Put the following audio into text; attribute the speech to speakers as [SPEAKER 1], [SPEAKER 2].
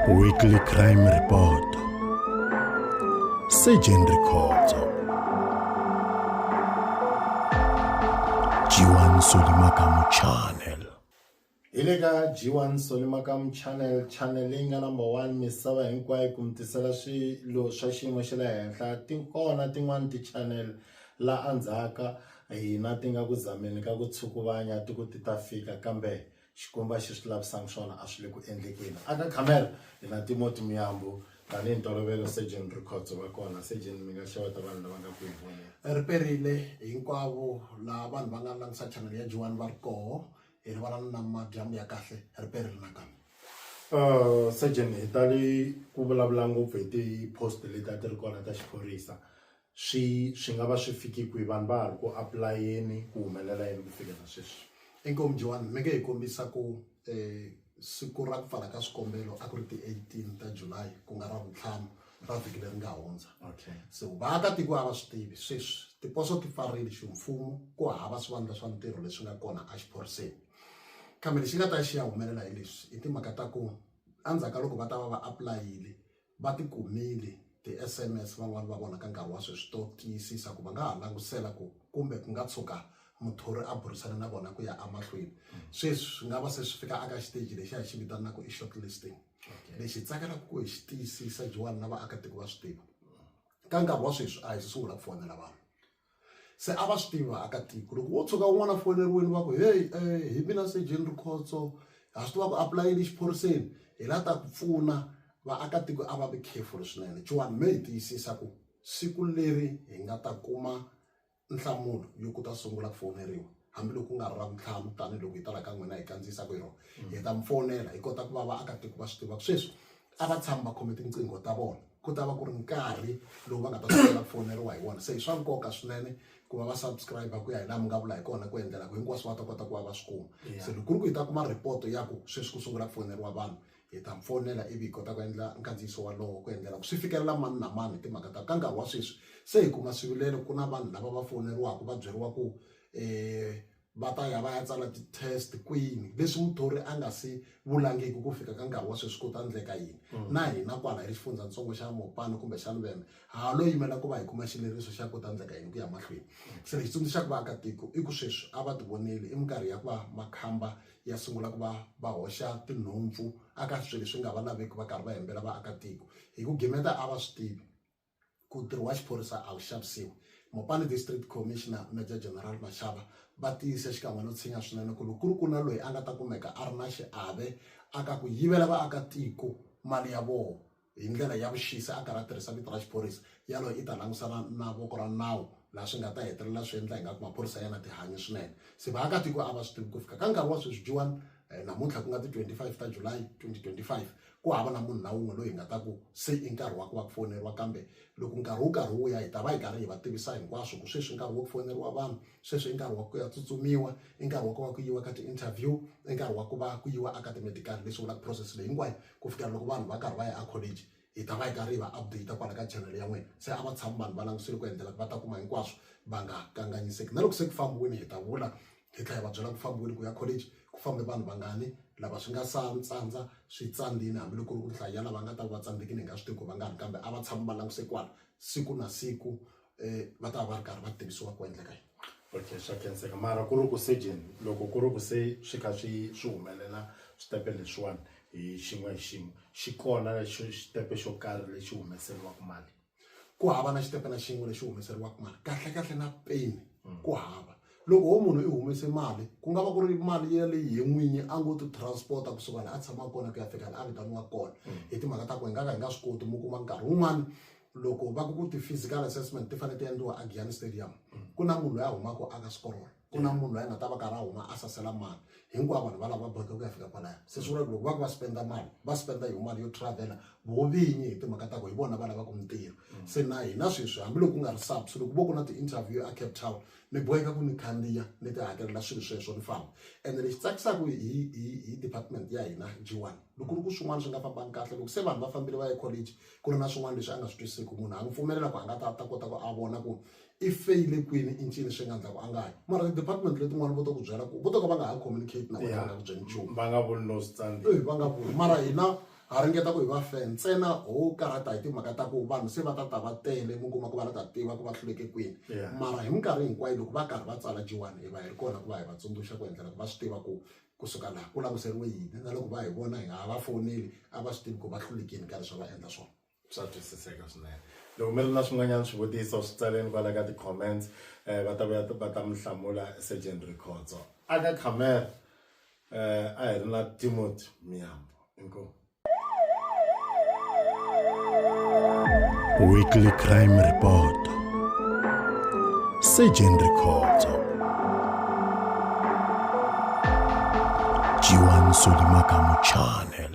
[SPEAKER 1] Weekly Crime Report Surgeon Rikhotso G1 Solimakamu Channel hi le ka
[SPEAKER 2] G1 Solimakamu Channel channel leyi nga number 1 misava hinkwayo ku mitisela swilo swa xiyimo xa le henhla ti kona tin'wana ti-channel la andzhaka Hina ti nga ku zameni ka ku tshukuvanya ti ku ti ta fika, kambe Xikwembu a xi swi lavisanga swona, a swi le ku endlekeni. A ka khamera, hi na Timoti Muyambu, tanihi ntolovelo Surgeon Rikhotso va kona. Surgeon, mi nga xeweta vanhu lava nga ku hi voneni. Ri perile,
[SPEAKER 3] hinkwavo laha vanhu va nga langutisa channel ya G1 va ri koho, hi rivala ni namadyambu ya kahle, ri perile nakambe. Surgeon, hi
[SPEAKER 2] tali ku vulavula ngopfu hi ti post leti a ti ri kona ta xiphorisa, Swi swi nga va swi fike kwihi vanhu va ha ri ku apulayeni ku humelela yini ku fikela sweswi. Inkomu Joan mi
[SPEAKER 3] nge hi kombisa ku siku ra ku pfala ka swikombelo a ku ri ti eighteen ta July ku nga ravuntlhanu ra vhiki leri nga hundza so vaakatiko a va swi tivi sweswi tiposo ti pfarile ximfumo ku hava swivandla swa ntirho leswi nga kona a xiphoriseni kambe lexi nga ta xi ya humelela hi leswi i timhaka ta ku endzhaku ka loko va ta va va apulayini. va ti kumile ti-SMS van'wana va vona ka nkarhi wa sweswi to tiyisisa ku va nga ha langutisela ku kumbe ku nga tshuka muthori a burisane na vona ku ya emahlweni sweswi swi nga va se swi fika aka xiteji lexi a hi xi vitanaka i short listing lexi hi tsakelaka ku hi xi tiyisisa Joan na vaakatiko va swi tiva ka nkarhi wa sweswi a hi se sungula ku fonela vanhu se a va swi tivi vaakatiko loko wo tshuka un'wana a foyineriwini va ku heyi um hi mina sejeni rikhotso ha swi tiva ku apulayini exiphoriseni hi la ta ku pfuna vaakatiko a va vi careful swinene chuwani me hi tiyisisa ku siku leri hi nga ta kuma nhlamulo yo ku ta sungula ku fowuneriwa hambiloko ku nga ri ra vuntlhanu tanihiloko hi tala ka n'wina hi kandziyisaka hi rona hi ta mi fowunela hi kota ku va vaakatiko va swi tiva ku sweswi a va tshami va khome tinqingho ta vona ku ta va ku ri nkarhi lowu va nga ta sungula ku foneriwa hi wona se hi swa nkoka swinene ku va va subscribe ku ya hi laha mi nga vula hi kona ku endlela ku hinkwaswo va ta kota ku va va swi kuma se loko ku ri ku hi ta kuma report ya ku sweswi ku sungula ku foneriwa vanhu hi ta mi fonela ivi hi kota ku endla nkandziyiso walowo ku endlela ku swi fikelela mani na mani hi timhaka ta ka nkarhi wa sweswi se hi kuma swivilelo ku na vanhu lava va foneriwaka va byeriwa ku um Va ta ya va ya tsala ti-test kwini leswi muthori a nga si vulangiki ku fika ka nkarhi wa sweswi ku ta endleka yini. Na hina kwala hi ri Xifundzatsongo xa Mopani kumbe xa Luvembe ha ha lo yimela ku va hi kuma xileriso xa ku ta endleka yini ku ya mahlweni. Se lexi tsundzuxaka vaakatiko i ku sweswi a va tivoneli i minkarhi ya ku va makhamba ya sungula ku va va hoxa tinhompfu aka swilo leswi nga va laveki va karhi va hembela vaakatiko hi ku gimeta a va swi tivi. ku ntirho wa xiphorisa a wu xavisiwi. Mopani District Commissioner Major General Mashaba va tiyise xikan'we no tshinya swinene ku loko ku ri ku na loyi a nga ta kumeka a ri na xiave a ka ku yivela vaakatiko mali ya vona hi ndlela ya vuxisi a karhi a tirhisa vito ra xiphorisa, yaloye i ta langusana na voko ra nawu laha swi nga ta hetelela swi endla ingaku maphorisa ya na tihanyi swinene. Se vaakatiko a va swi tivi ku fika ka nkarhi wa sweswi Juan namuntlha ku nga ti 25 ta July 2025 ku hava na munhu na wun'we loyi hi nga ta ku se i nkarhi wa ku va ku foneriwa kambe loko nkarhi wu karhi wu ya hi ta va hi karhi hi va tivisa hinkwaswo ku sweswi i nkarhi wa ku foneriwa vanhu sweswi i nkarhi wa ku ya tsutsumiwa i nkarhi wa ku va ku yiwa ka ti-interview i nkarhi wa ku va ku yiwa eka ti-medical leswi vulaka process leyi hinkwayo ku fikela loko vanhu va karhi va ya a college hi ta va hi karhi hi va update kwala ka channel ya n'wina se a va tshami vanhu va langusile ku endlela ku va ta kuma hinkwaswo va nga kanganyiseki na loko se ku fambiwile hi ta vula hi tlhela hi va byela ku fambiweni ku ya college ku fambe vanhu vangani lava swi nga sa tsandza swi tsandzile hambiloko ku ri ku nhlayo ya lava nga ta va tsandzekile hi nga swi tivi ku va nga ri kambe a va tshama va languse kwala siku na siku um va ta va va ri karhi va tivisiwa ku endleka yini okay swa khenseka
[SPEAKER 2] mara ku ri ku surgeon loko ku ri ku se swi kha swi swi humelela switepe leswiwani hi xin'we hi xin'we xi kona xitepe xo karhi lexi humeseriwaka mali ku hava na
[SPEAKER 3] xitepe na xin'we lexi humeseriwaka mali kahlekahle na peni hmm. ku hava loko wo munhu i humese mali ku nga va ku ri mali ya leyi ye n'winyi a ngo ti transporta kusuka laha a tshamaka kona ku ya fika laha a vitaniwaka kona hmm. hi timhaka ta ku hi nga ka hi nga swi koti mi kuma nkarhi wun'wana loko va ku ku ti-physical assessment ti fanele ti endliwa a giyani stadium hmm. ku na munhu loyi a humaka aka sikorolo ku na munhu loyi a nga ta va karhi a huma a sasela mali hinkwavo vanhu va lava va boheka ku ya fika kwalaya se swi vula ku loko va ku va spenda mali va spenda hi mali yo travela vo vinyi hi timhaka ta ku hi vona va lavaka mintirho mm. se na hina sweswi hambiloko ku nga ri subs loko vo ku na ti-interview a cape town ni boheka ku ni khandziya ni ti hakelela swilo sweswo ni famba ene lexi tsakisaka hi hi department ya hina g one loko ri ku swin'wana swi nga fambangi kahle loko se vanhu va fambile va ya college ku ri na swin'wana leswi a nga swi twisiki munhu a n'wi pfumelela ku a nga ta ta kota ku a vona ku i feyile kwini i ncini swi nga ndla ku a nga hanyi mara ti-department letin'wana vo to ku byela ku vo to ka va nga ha communicate na wena va nga ku byeli nchumu va nga vuli
[SPEAKER 2] no
[SPEAKER 3] swi tsandza Eh, va nga vuli mara
[SPEAKER 2] hina
[SPEAKER 3] ha ringeta ku hi va fe ntsena ho karhata hi timhaka ta ku vanhu se va ta ta va tele mi kuma ku va la ta tiva ku va hluleke kwini Yeah. mara hi minkarhi hinkwayo loko va karhi va tsala jiwani hi va hi ri kona ku va hi va tsundzuxa ku endlela ku va swi tiva ku kusuka laha ku languseriwe yini na loko va hi vona hi nga ha va fowuneli a va swi tivi ku va hlulekini ka leswi a va endla swona swa twisiseka
[SPEAKER 2] swinene loko mi ri na swin'wanyana swivutiso swi tsaleni kwala ka ti-comments um va ta vuya va ta mi hlamula surgeon rikhotso a ka camera um a hi ri na timothy miyambo inkomu
[SPEAKER 1] weekly crime report surgeon rikhotso jiwan solimakamu channel